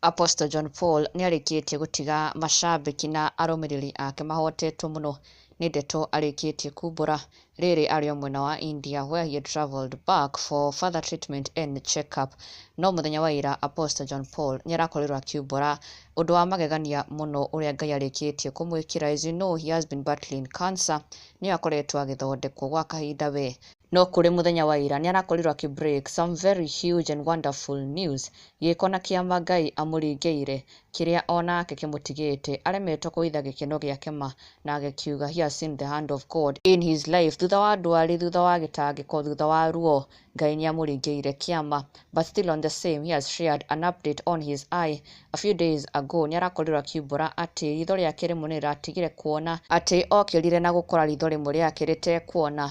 Apostle John Paul nĩ arĩkĩtie gũtiga macambĩki na arũmĩrĩri ake mahotetwo mũno nĩ ndeto arĩkĩtie kumbũra Rĩrĩ arĩ o mwena wa India where he had travelled back for further treatment and check up. No mũthenya wa ira Apostle John Paul nĩarakorirwo akiumbũra ũndũ wa magegania mũno ũrĩa Ngai arĩkĩtie kũmwĩkĩra as you know he has been battling cancer nĩyo akoretwo agĩthondekwo gwa kahinda we no kũrĩ mũthenya wa ira nĩarakorirwo akĩ break some very huge and wonderful news gĩĩko na kĩama Ngai amũringĩire kĩrĩa o nake kĩmũtigĩte aremetwo kũhitha gĩkeno gĩake ma, na agĩkiuga, He has seen the hand of God in his life, thutha wa ndwari, thutha wa gĩtangĩko, thutha wa ruo, Ngai nĩamũringĩrĩire kĩama, but still on the same, he has shared an update on his eye, a few days ago, nĩarakorirwo akiumbũra atĩ ritho rĩake rĩmwe nĩrĩratigire kuona, atĩ okĩrire na gũkora ritho rĩmwe rĩake rĩtekuona,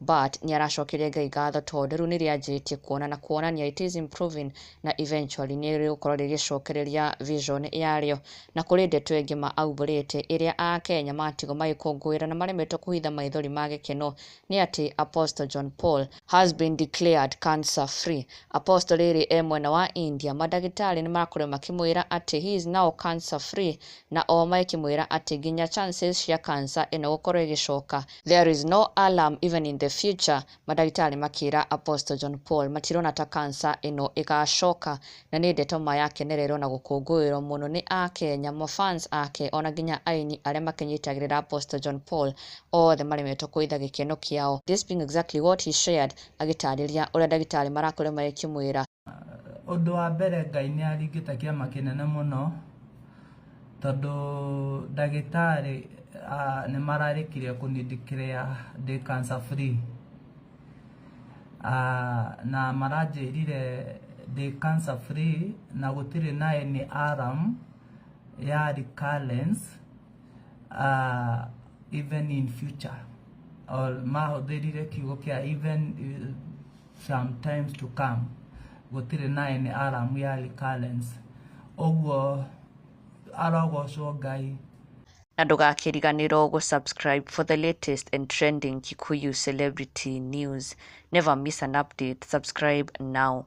But nĩaracokeria Ngai ngatho tondũ rĩu nĩrĩanjĩtie kuona na kuonania it is improving na eventually nĩrĩgũkorwo rĩgĩcokereria vision yarĩo. Na kũrĩ ndeto ĩngĩ ma aumbũrĩte ĩrĩa a Kenya matigwo magĩkũngũĩra na maremetwo kũhitha maithori ma gĩkeno nĩ atĩ Apostle John Paul has been declared cancer free. Apostle rĩrĩ e mwena wa India mandagĩtarĩ nĩmarakorirwo makĩmwĩra atĩ he is now cancer free na oho magĩkĩmwĩra atĩ nginya chances cia cancer ĩno gũkorwo ĩgĩcoka There is no alarm even in the future, Madagĩtarĩ makĩĩra Apostle John Paul matirona ta cancer ĩno ĩgaacoka. Na nĩ ndeto ma ya kenererwo na gũkũngũĩrwo mũno nĩ Akenya, ma fans ake, o na nginya aini arĩa makĩnyitagĩrĩra Apostle John Paul, othe maremetwo kũitha gĩkeno kĩao. This being exactly what he shared agĩtaarĩria ũrĩa ndagĩtarĩ marakorirwo magĩkĩmwĩra. Ũndũ wa mbere Ngai nĩ aringĩte kĩama kĩnene mũno, tondũ ndagĩtarĩ nĩ mararĩkirie kũ declare ndĩ cancer free. Na maranjĩrire ndĩ cancer free na gũtirĩ na any alarm ya recurrence even in future. Mahũthĩrire kiugo kĩa even. sometimes to come gũtirĩ naye nĩ aramu ya recurrence ũguo arogocwo ngai na ndũgakĩriganĩrwo gũ subscribe for the latest and trending Kikuyu celebrity news never miss an update subscribe now